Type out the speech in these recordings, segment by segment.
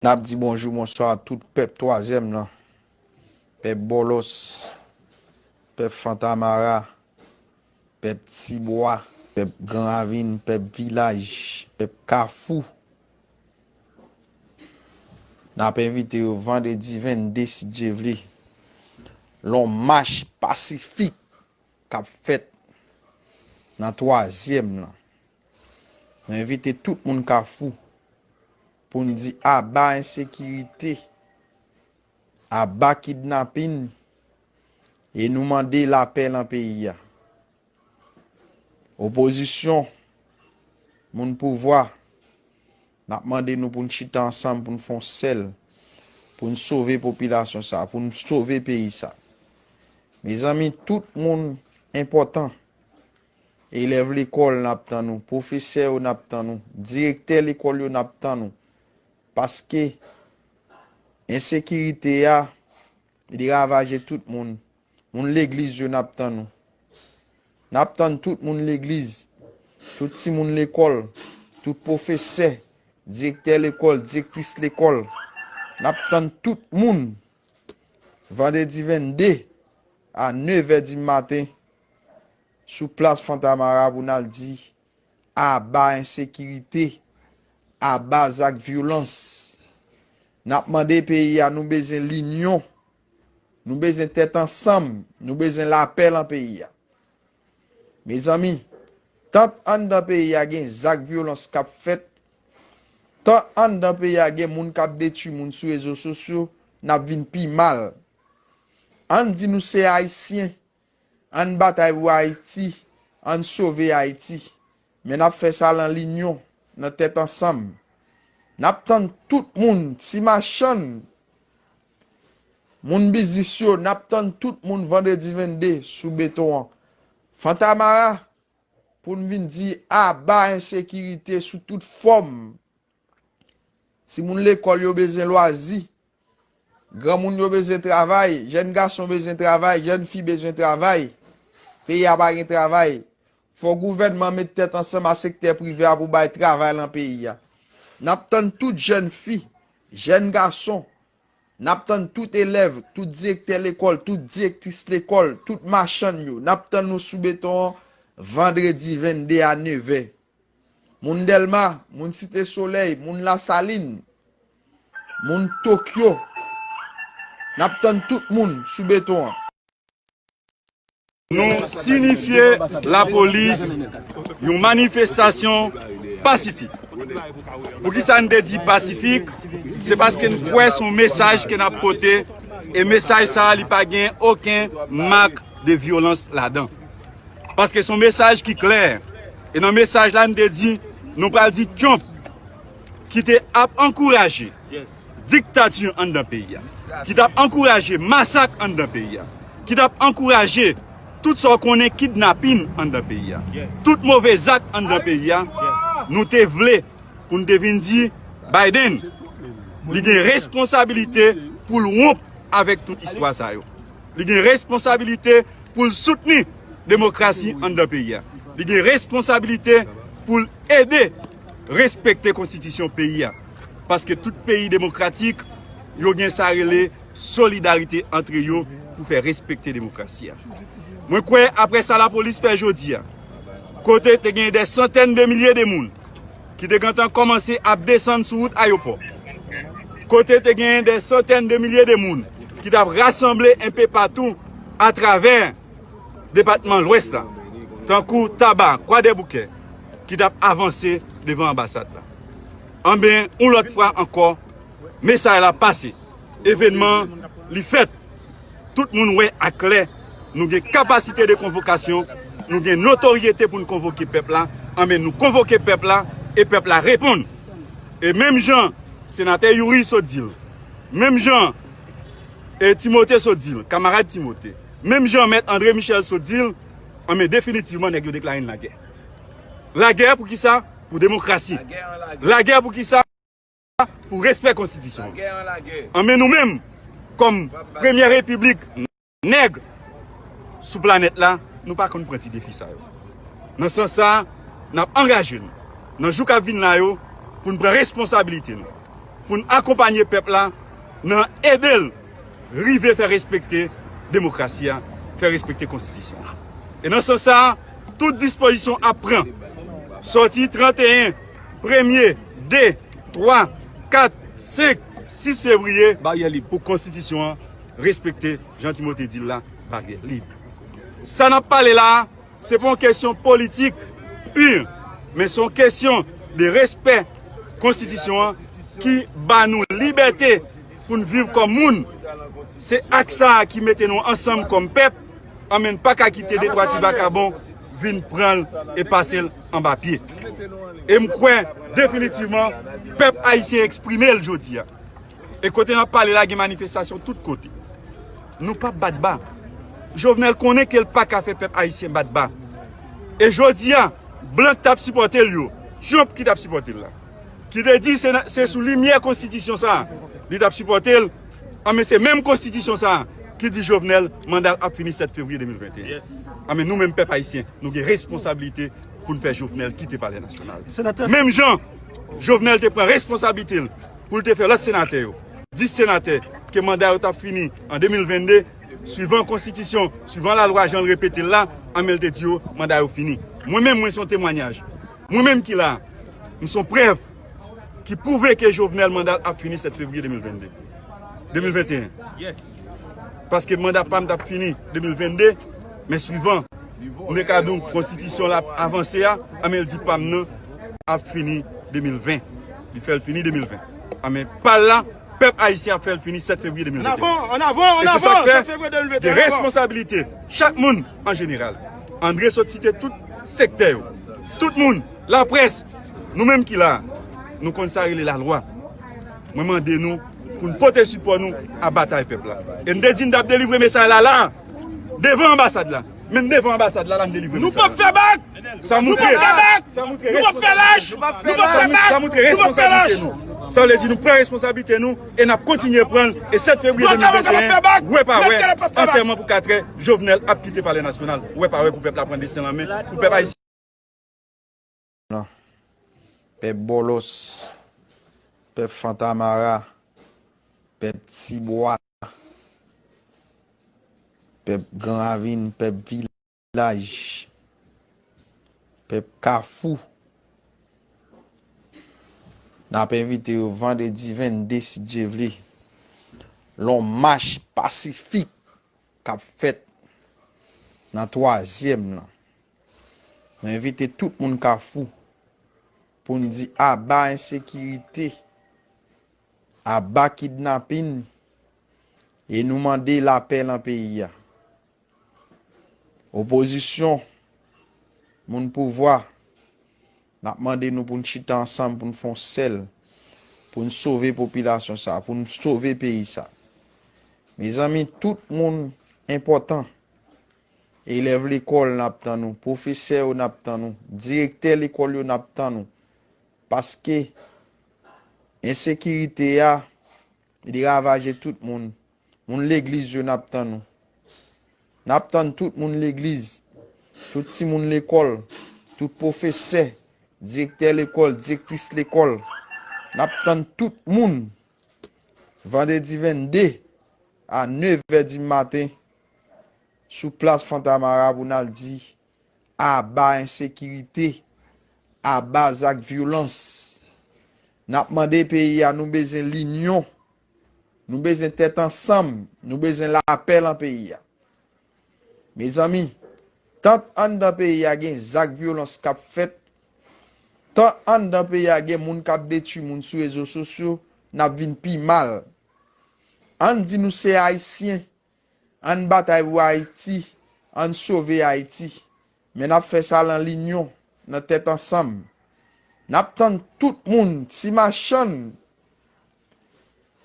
Nap di bonjou bonswa a tout pèp twazyèm lan, pèp bòlòs, pèp fantamara, pèp ti bwa, pèp gran ravin, pèp vilaj, pèp kafou. Nap envite yo vandredi 22 si Dye vle, lon mach pasifik kap fèt nan twazyèm lan. Nou envite tout moun kafou Pou n di aba ensekirite, aba kidnapin e nou mande lapè lan peyi a. Opozisyon, moun pouvwa, n ap mande nou pou n chita ansanm pou n fon sèl, pou n sove popilasyon sa, pou n sove peyi sa. Mezanmi tout moun enpòtan. Elèv lekòl n ap tann ou. Pwofesè yo n ap tann ou. Direktè lekòl yo n ap tann ou. Paske ensekirite a li ravaje tout moun. Moun legliz yo n ap tann ou. N ap tann tout moun legliz. Tout timoun lekòl. Tout pwofesè. Direktè lekòl. Direktris lekòl. N ap tann tout moun. Vandredi 22 a nevè di maten. sou plas Fantamara pou n al di aba ensekirite, aba zak vyolans. N ap mande peyi a nou bezwen linyon, nou bezwen tèt ansanm, nou bezwen lapè lan peyi a. Mezanmi, tant anndan peyi a gen zak vyolans k ap fèt, tant anndan peyi a gen moun k ap detui moun sou rezo sosyo, n ap vin pi mal. Ann di nou se Ayisyen, Ann batay pou Ayiti, ann sove Ayiti. Men n ap fè sa lan linyon, nan tèt ansanm. N ap tann tout moun, ti machann, moun biznis yo, n ap tann tout moun vandredi 22 sou beton an, Fantamara, pou n vin di aba ensekirite sou tout fòm. Timoun lekòl yo bezwen lwazi. Granmoun yo bezwen travay. Jèn gason bezwen travay. Jèn fi bezwen travay. Peyi a pa gen travay. Fò gouvènman an met tèt ansanm a sektè prive a pou bay travay lan peyi a. N ap tann tout jèn fi, jèn gason, n ap tann tout elèv, tout direktè lekòl, tout direktris lekòl, tout machann yo, n ap tann nou sou beton an vandredi 22 a nevè. moun Dèlma, moun Site Solèy, moun Lasalin, moun Tokyo. N ap tann tout moun sou beton an. Nou sinifye lapolis yon manifestasyon pasifik. Poukisa n te di pasifik? Se paske n kwè se yon mesaj ke n ap pote e mesaj sa a li pa gen oken mak de vyolans ladan. Paske son mesaj ki klè. E nan mesaj la m te di, nou pral di Trump ki te ap ankouraje diktati anndan peyi a, ki t ap ankouraje masak anndan peyi a, ki t ap ankouraje tout sa w konnen kidnapin anndan peyi a, tout move zak anndan peyi a, nou te vle pou n te vin di Biden li gen responsabilite pou l wonp avèk tout istwa sa yo. Li gen responsabilite pou l soutni demokrasi anndan peyi a. Li gen responsabilite pou l ede respekte konstitisyon peyi a. Paske tout peyi demokratik, yo gen sa rele solidarite antre yo pou fè respekte demokrasi a. Mwen kwè apre sa lapolis fè jodi a, kote te gen de santèn de milye de moun, ki te gentan kòmanse ap desann sou wout ayopò, kote te genyen dè santèn de milye de moun ki t ap rasanble enpe patou atravè depatman Lwès la, tankou Taba, Kwadèboukè, ki t ap avanse devan anbasad la. Anben, yon lòt fwa ankò, mesaj la pase. evenman li fèt. Tout moun wè a klè nou gen kapasite de konvokasyon, nou gen notoryete pou n konvoke pèp la, anben nou konvoke pèp la e pèp la reponn. E menm jan Senatè Youri sot di l, menm jan E. Timote sot di l, kamarad Timote, menm jan Mèt Andre Michel sot di l, anben definitivman nèg yo deklare n lagè. Lagè pou kisa? Pou demokrasi. Lagè pou kisa? Lwa pou respè konstitisyon an men nou menm kòm premyè repiblik nèg sou planèt la nou pa konn pran ti defi sa yo nan sans sa n ap angaje nou nan jou k ap vin la yo pou n pran responsabilite nou pou n akonpanye pèp la nan ede l rive fè respekte demokrasi a fè respekte konstitisyon an e nan sans sa tout dispozisyon ap pran sòti 31. Premye, de, twa, kat, senk, sis fevriye, baryè lib pou konstitisyon an respekte, jan Timote di l la, baryè lib. Sa n ap pale la a, se pa yon kesyon politik pu, men se yon kesyon de respè konstitisyon an ki ba nou libète pou n viv kòm moun. Se ak sa a ki mete nou ansanm kòm pèp, anben n pa ka kite de twa ti vakabon vin pran l e pase l. anba pye. E m kwè definitivman pèp ayisyen eksprime l jodi a. E kote n ap pale la gen manifestasyon tout kote. Nou pap bat ba. Jovenel konnen ke l pa ka fè pèp ayisyen bat ba. E jodi a, blan k t ap sipòte l yo, Trump ki t ap sipòte l la, ki te di se sou limyè konstitisyon sa a li t ap sipòte l, An men se menm konstitisyon sa a ki di Jovenel manda l ap fini 7 fevriye 2021. An men nou menm pèp ayisyen nou gen responsabilite pou n fè Jovenel kite palè nasyonal. Menm jan Jovenel te pran responsablite l pou l te fè lòt senatè yo, 10 senatè ke manda yo t ap fini an 2022, swivan konstitisyon, swivan lalwa jan l repete l la, an men l te di yo manda yo fini. Mwen menm mwen se yon temwanyaj. Mwen menm ki la a, m se yon prèv. ki pwouve ke Jovenel manda l ap fini 7 fevriye 2022. 2021. Paske manda pa m t ap fini 2022, men swivan Mekadoun konstitisyon l ap avanse a, anben l di pa m nan ap fini 2020. Li fè l fini 2020. Anben pa l la, pèp ayisyen ap fè l fini 7 fevriye 2021. An avan! An avan! An avan! E se sa k fè, gen responsabilite chak moun an jeneral. Andre sot site tout sektè yo. Tout moun. Laprès, nou menm ki la a, nou konn sa rele lalwa. Mwen mande nou pou n pote sipò nou a batay pèp la. E m te di n t ap delivre mesay la la a, devan anbasad la. Menm devan anbasad la la n delivre mesay la. Nou p ap fè bak! Sa moutre responsablite nou. Sa vle di nou pran responsablite nou e n ap kontinye pran l. E 7 fevriye 2021, wè pa wè, antèman pou katrè, Jovenel ap kite palè nasyonal. Wè pa wè pou pèp la pran desten l an men. nan. Pèp Bòlòs, pèp Fantamara, pèp Tibwa, pèp Gran Ravin, pèp Vilaj, pèp Kafou, n ap envite yo vandredi 22 si Dye vle, l on mach pasifik k ap fèt nan twazyèm lan. Mwen envite tout moun Kafou pou n di aba ensekirite, aba kidnapin e nou mande lapè lan peyi a. Opozisyon, moun pouvwa. N ap mande nou pou n chita ansanm pou n fè yon sèl, pou n sove popilasyon sa a, pou n sove peyi sa a. Mezanmi, tout moun enpòtan. Elèv lekòl, n ap tann nou. Pwofesè yo, n ap tann nou. Direktè lekòl yo, n ap tann nou. Paske, ensekirite a, li ravaje tout moun. Moun legliz yo nap tann ou. Nap tann tout moun legliz, tout ti moun lekòl, tout pwofesè, direktè lekòl, direktris lekòl. Nap tann tout moun vandredi 22 a 9 è di maten sou plas Fontamara pou nal di aba ensekirite, aba zak vyolans. Nap mande peyi a nou bezyen linyon Nou bezwen tèt ansanm, nou bezwen lapè lan peyi a. Mezanmi, tant anndan peyi a gen zak vyolans k ap fèt, tant anndan peyi a gen moun k ap detui moun sou rezo sosyo, n ap vin pi mal. Ann di nou se Ayisyen, Ann batay pou Ayiti, ann sove Ayiti, men n ap fè sa lan linyon, nan tèt ansanm. N ap tann tout moun, ti machann,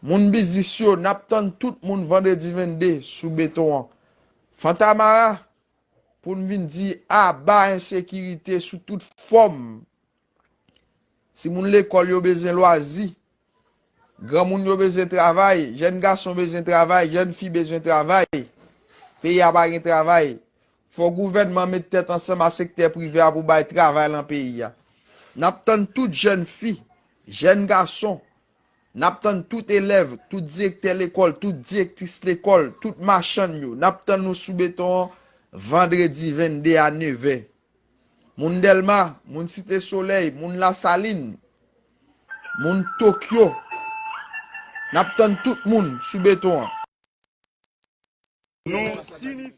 moun biznis yo, n ap tann tout moun vandredi 22 sou beton an, Fantamara, pou n vin di aba ensekirite sou tout fòm. Timoun lekòl yo bezwen lwazi. Granmoun yo bezwen travay. Jèn gason bezwen travay. Jèn fi bezwen travay. Peyi a pa gen travay. Fò gouvènman met tèt ansanm a sektè prive a pou bay travay lan peyi a. N ap tann tout jèn fi, jèn gason, n ap tann tout elèv, tout direktè lekòl, tout direktris lekòl, tout machann yo, n ap tann nou sou beton an vandredi 22 a nevè. Moun Dèlma, moun Site Solèy, moun Lasalin, moun Tokyo, n ap tann tout moun sou beton an. Nou sinifi.